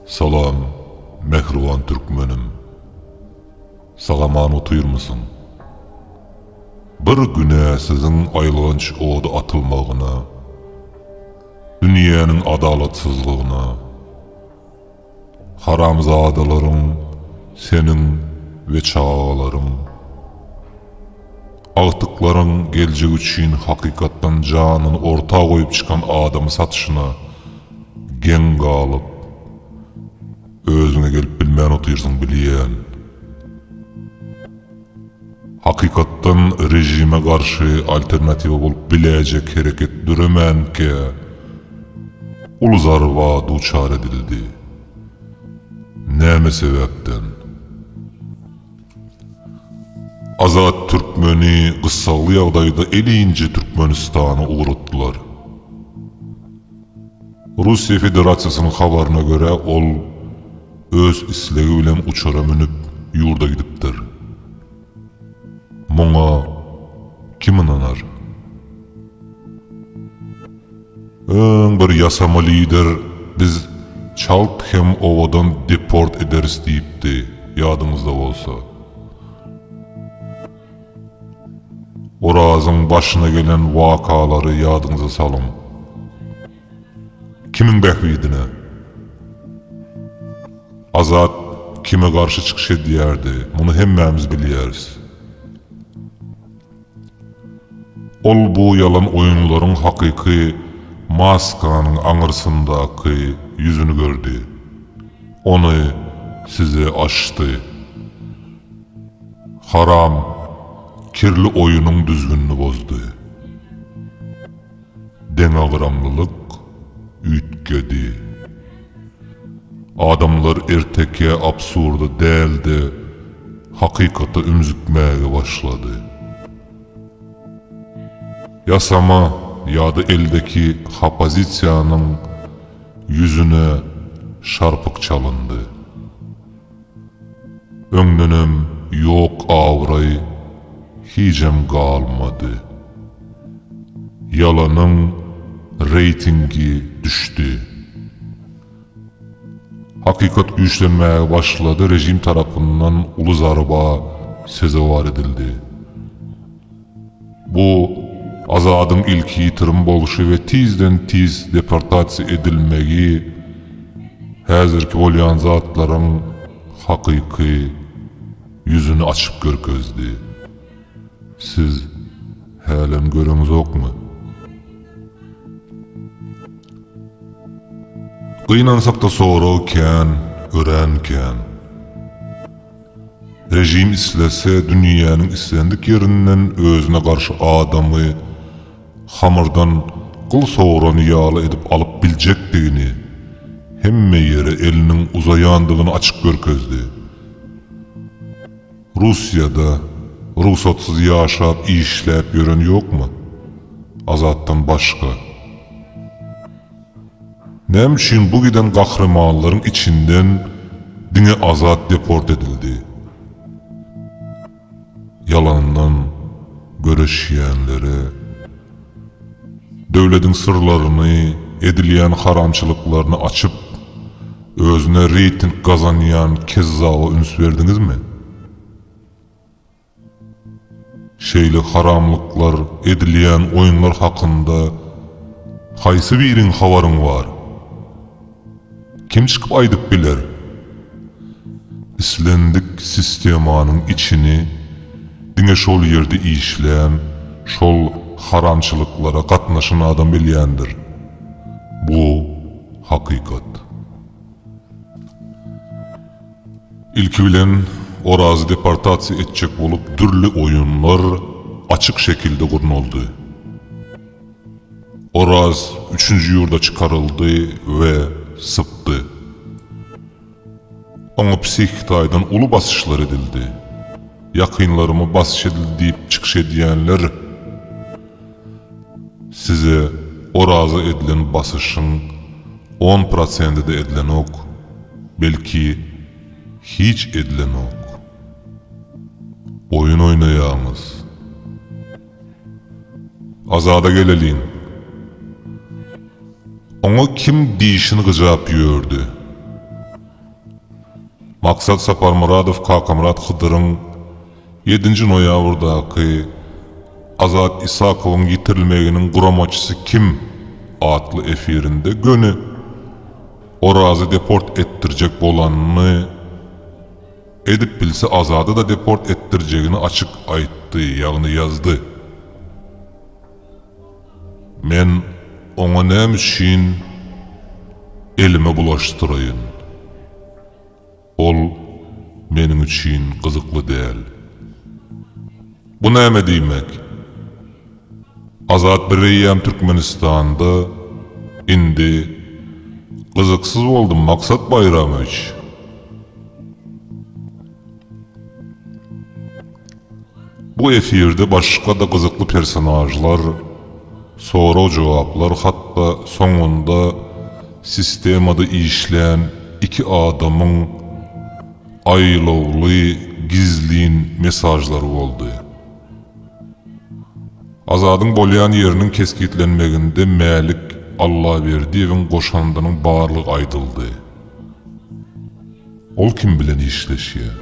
Salam mähriban türkmenim. Sagaman otyrmysyň? Bir güne siziň aýylganç oda atylmagyna, dünýäniň adalatsyzlygyna, Haramzadalaryň seniň we çagalaryň. Agtyklaryň geljek üçin hakykatdan janyny orta goýup çykan adamy satyşyna geň galyp özüňe gelip bilmän otyrsyň bilýän. Hakykatdan režime garşy alternatiwa bolup biläýjek hereket döremänkä uly zarba duçar edildi. Näme sebäpden? Azat Türkmeni gyssagly ýagdaýda elinje Türkmenistana ugratdylar. Russiýa Federasiýasynyň habaryna görä, ol öz islegi bilen uçara münüp, ýurda gidipdir. Muňa kim ynanar? Öň bir ýasama lider biz çalt hem owadan deport ederis diýipdi, ýadyňyzda bolsa. Orazyň başyna gelen wakalary ýadyňyza salyň. Kimiň bähbidine? Azat kime garşy çykyş edýärdi, muny hemmämiz bilýäris. Ol bu ýalan oýunlaryň hakyky maskanyň aňyrsyndaky ýüzüni gördi. Ony size açdy. Haram, kirli oýunyň düzgünini bozdy. Deňagramlylyk üýtgedi. Adamlar ertekä absurda däl-de, hakykata ümzükmäge başlady. Ýasama ýa-da eldeki hapozisiýanyň ýüzüne şarpyk çalyndy. Öňdenem ýok abraý hijem galmady. Ýalanyň reýtingi düşdi. Hakykat güýçlenmäge başlady režim tarapyndan uly zarba sezewar edildi. Bu Azadyň ilki ýitirim bolşy we tizden tiz deportasiýa edilmegi häzirki bolýan zatlaryň hakyky ýüzüni açyp görkezdi. Siz hälem göreňzokmy? Gynansakda sorag kän, örän kän. Režim islese dünýäniň islendik ýerinden özüne garşy adamy hamyrdan gyl sogurany ýaly edip alyp biljekdigini, hemme ýere eliniň uzaýandygyny açyk görkezdi. Russiýada rugsatsyz ýaşap işläp ýören ýokmy? Azatdan başga. Näme üçin bu giden gahrymanlaryň içinden diňe Azat deport edildi? Ýalandan göreşýänlere, döwlediň syrlaryny, edilýän haramçylyklaryny açyp, özüne reýting gazanýan kezzaba üns berdiňizmi? Şeýle haramlyklar edilýän oýunlar hakynda haýsy biriň habaryň bar? Kim çykyp aýdyp biler? Islendik sistemanyň içini diňe şol ýerde işlän, şol haramçylyklara gatnaşan adam bilýändir. Bu hakykat. Ilki bilen, Orazy deportasiýa etjek bolup dürli oýunlar açyk şekilde gurnaldy. Oraz üçünji ýurda çykaryldy we sypdy. Oňa psihiki taýdan uly basyşlar edildi. Ýakynlaryma basyş edildi diýip çykyş edýänler, Size Oraza edilen basyşyň on prosenti-de edilenok, belki, hiç edilenok. Oýun oýnaýaňyz. Azada geleliň. Oňa kim dişini gyjap ýördi? Maksat Saparmyradow Kakamyrat Hydyryň Ýedinji noýabrdaky Azat Isakowyň ýitirilmeginiň guramaçysy kim? atly efirinde göni Orazy deport etdirjek bolanyny, edip bilse Azady-da deport etdirjegini açyk aýtdy, ýagny ýazdy. Men oňa näme üçin elimi bulaşdyraýyn? Ol meniň üçin gyzykly däl. Bu näme diýmek? Azat bireýýäm Türkmenistanda indi gyzyksyz boldy Maksat Baýramowiç. Bu efirde başga-da gyzykly personažlar, sorag-jogaplar hatda soňunda sistemada işlän iki adamyň aýlawly gizlin mesažlary boldy. Azadyň bolýan ýeriniň kesgitlenmeginde Mälik Allaberdiýewiň goşandynyň barlygy aýdyldy. Ol kim bilen işleşýär?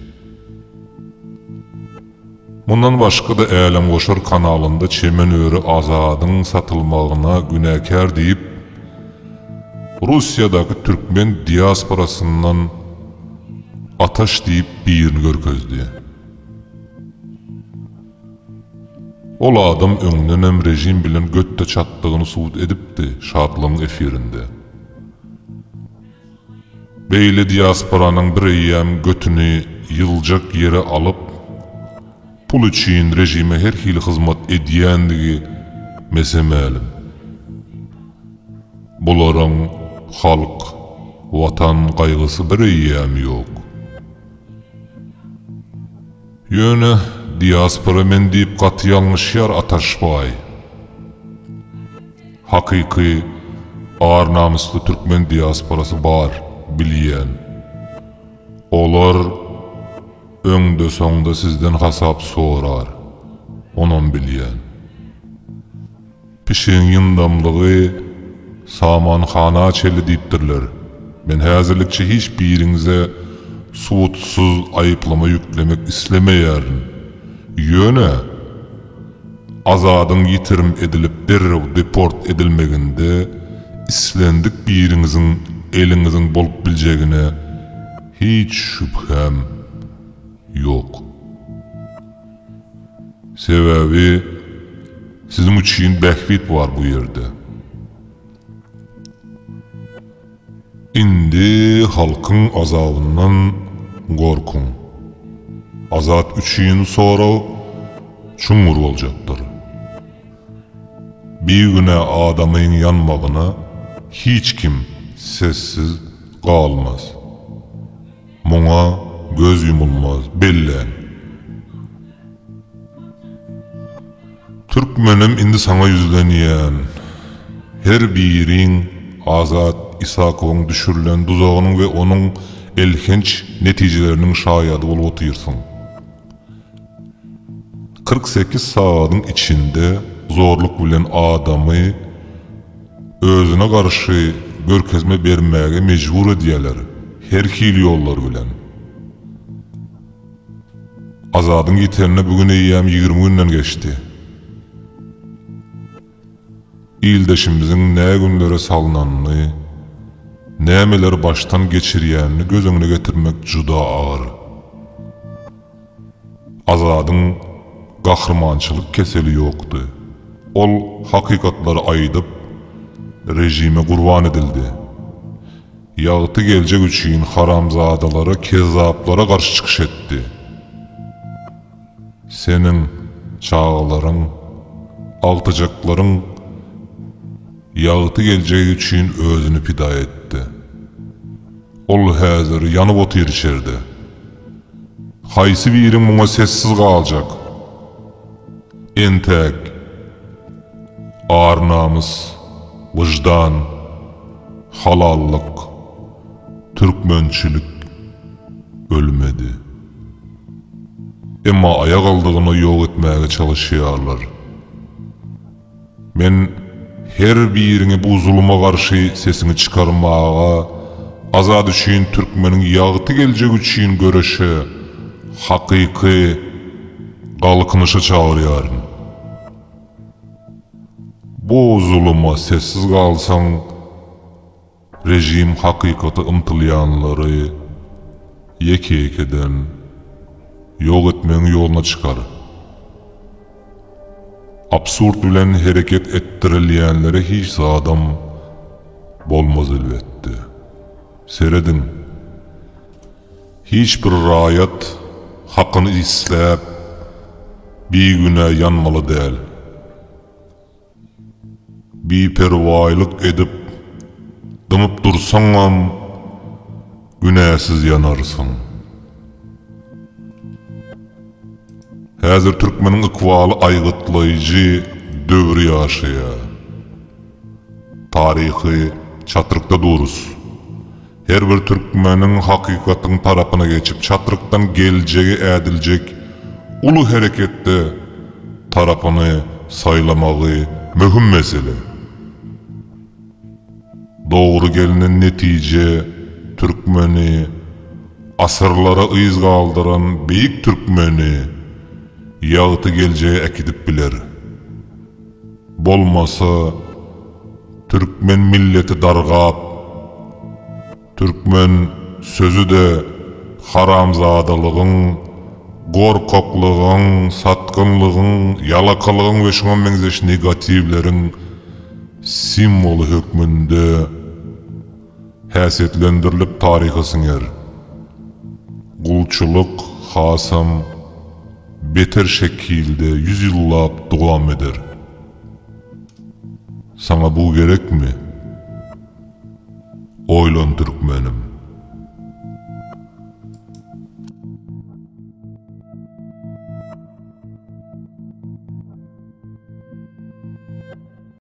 Mundan başga-da Älemgoşar kanalynda çemen öri Azadyň satylmagyna günäkär diýip, Russiýadaky türkmen diasporasyndan Ataş diýip birini görkezdi. Ol adam öňdenem režim bilen göt-de çatdygyny subut edipdi Şatlygyň efirinde. Beýle diasporanyň bireýýäm götüni ýyljak ýere alyp, pul üçin režime her hili hyzmat edýändigi mese mälim. Bularyň halk, Watan gaýgysy bireýýäm ýok. Ýöne diaspora men diýip gaty ýalňyşýar Ataşbaý. Hakyky ar namysly türkmen diasporasy bar bilýän. Olar öňde soňda sizden hasap sorar. Onam bilýän. Pişigiň ýyndamlygy samanhana çenli diýipdirler. Men häzirlikçe hiç biriňize subutsyz aýyplama ýüklemek islemeýärin. Ýöne, Azadyň ýitirim edilip derrew deport edilmeginde islendik biriňiziň eliňiziň bolup biljegine hiç şübhäm ýok. Sebäbi siziň üçin bähbit bar bu ýerde. Indi halkyň azabyndan gorkuň. Azat üçin sorag çuňňur boljakdyr. Bigünä adamyň ýanmagyna hiç kim sessiz galmaz. Muňa göz ýumulmaz. Belläň. Türkmenim indi saňa ýüzlenýän. Her biriň Azat Isakowyň düşürilen duzagynyň we onuň elhenç netijeleriniň şaýady bolup otyrsyň. Kyrk sekiz sagadyň içinde zorluk bilen adamy özüne garşy görkezme bermäge mejbur edýärler, her hili ýollar bilen. Azadyň ýitenine bu gün eýýäm ýigrimi günden geçdi. Ildeşimiziň nä günlere salnanyny, nämeleri başdan geçirýänini göz öňüne getirmek juda agyr. Azadyň gahrymançylyk keseli ýokdy. Ol hakykatlary aýdyp, režime gurban edildi. Ýagty geljek üçin haramzadalara, kezzaplara garşy çykyş etdi. Seniň çagalaryň, agtyjaklaryň ýagty geljegi üçin özüni pida etdi. Ol häzir ýanyp otyr içerde. Haýsy biri muňa sessiz galjak? Entäk. Ar-namys, wyždan, halallyk, türkmençilik ölmedi. Emma aýagaldygyna ýok etmäge çalyşýarlar. Men her biriňi bu zuluma garşy sesiňi çykarmaga, Azat üçin türkmeniň ýagty geljegi üçin göreşe, hakyky Galkynyşa çagyrýaryn. Bu zuluma sessiz galsaň, Režim hakykata ymtylýanlary ýeke-ýekeden ýok etmegiň ýoluna çykar. Absurd bilen hereket etdirilýänlere hiç zadam bolmaz elbetde. Serediň, hiç bir raýat hakyny isläp bigünä ýanmaly däl. Biperwaýlyk edip dymyp dursaňam günäsiz ýanarsyň. Häzir türkmeniň ykbaly aýgytlaýjy döwri ýaşaýar. Taryhy çatrykda durus. Her bir türkmeniň hakykatyň tarapyna geçip, çatrykdan geljegi ädiljek uly hereketde tarapyny saýlamagy möhüm mesele. Dogry gelnen netije türkmeni, asyrlara yz galdyran beýik türkmeni ýagty geljege äkidip biler. Bolmasa, türkmen milleti dargap, türkmen sözi-de haramzadalygyň, gorkaklygyň, satgynlygyň, ýalakalygyň we şuňa meňzeş negatiwleriň simwoly hökmünde, Häsiýetlendirilip taryha siňer. Gulçulyk hasam beter şekilde ýüz ýyllap dowam eder. Saňa bu gerekmi? Oýlan türkmenim.